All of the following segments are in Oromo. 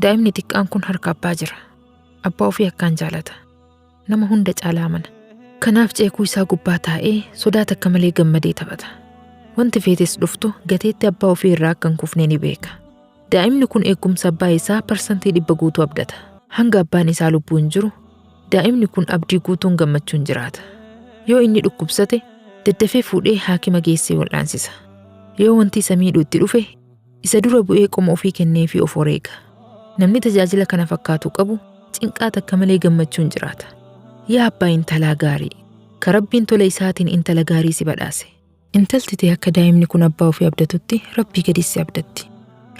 Daa'imni xiqqaan kun harka abbaa jira. Abbaa ofii akkaan jaalata. Nama hunda caalaa amana. Kanaaf ceekuu isaa gubbaa taa'ee sodaa takka malee gammadee taphata. Wanti feetes dhuftu gateetti abbaa ofii irraa akka hin kufne ni beeka. Daa'imni kun eegumsa abbaa isaa parsantii dhibba guutuu abdata. Hanga abbaan isaa lubbuun jiru daa'imni kun abdii guutuun gammachuun jiraata. Yoo inni dhukkubsate daddafee fuudhee haakima geessee wal'aansisa. Yoo wanti isa miidhu itti dhufe Isa dura bu'ee qoma ofii kenneefii of wareega. Namni tajaajila kana fakkaatu qabu cinqaa takka malee gammachuun jiraata. Yaa abbaa intalaa gaarii! Ka Rabbiin tola isaatiin intala gaarii si badhaase. Intalti tee akka daa'imni kun abbaa ofii abdatutti Rabbii gadis si abdatti.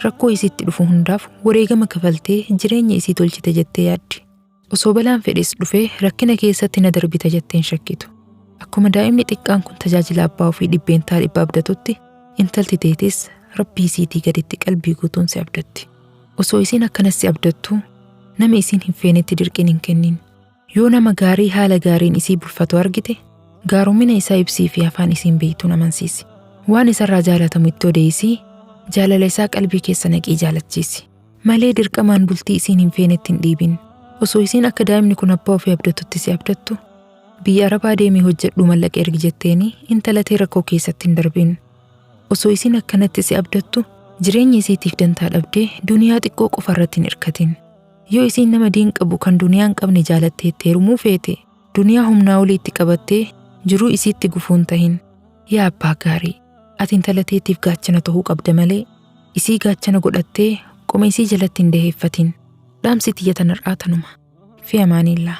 Rakkoo isiitti dhufu hundaaf wareegama kafaltee jireenya isii tolchite jettee yaaddi. Osoo balaan fedhes dhufee rakkina keessatti na darbita jettee hin shakkitu. Akkuma daa'imni xiqqaan kun tajaajila abbaa ofii dhibbeentaa dhibba abdatutti, intalti teetis Rabbii isiitii gaditti qalbii guutuun si abdatti. Osoo isiin akkanas si abdattuu, nama isiin hin feenetti dirqiin hin kennin. Yoo nama gaarii haala gaariin isii bulfatu argite, gaaromina isaa ibsii fi afaan isiin beektuun amansiisi. Waan isarraa jaalatamu itti odeessii, jaalala isaa qalbii keessa naqii jaalachiisi. malee dirqamaan bultii isiin hin feenetti hin dhiibin. Osoo isiin akka daa'imni kun abbaa ofii abdatutti si abdattu biyya arabaa deemii hojjedhuu mallaqa ergi jetteeni intala tee rakkoo keessatti hin darbin. Osoo isiin akkanatti si abdattu jireenya isiitiif dantaa dhabdee duniyaa xiqqoo qofa irratti hin irkatin. Yoo isiin nama diin qabu kan duniyaa hin qabne jaalattee itti heerumuu feete duniyaa humnaa olii itti qabattee jiruu isiitti gufuu hin tahin. Yaa abbaa gaarii! Ati intala teetiif gaachana tahuu qabda malee isii gaachana godhattee qoma isii jalatti hin daheeffatin. Dhaamsi tiyya tan har'aa tanuma. Fi amaaniillaa.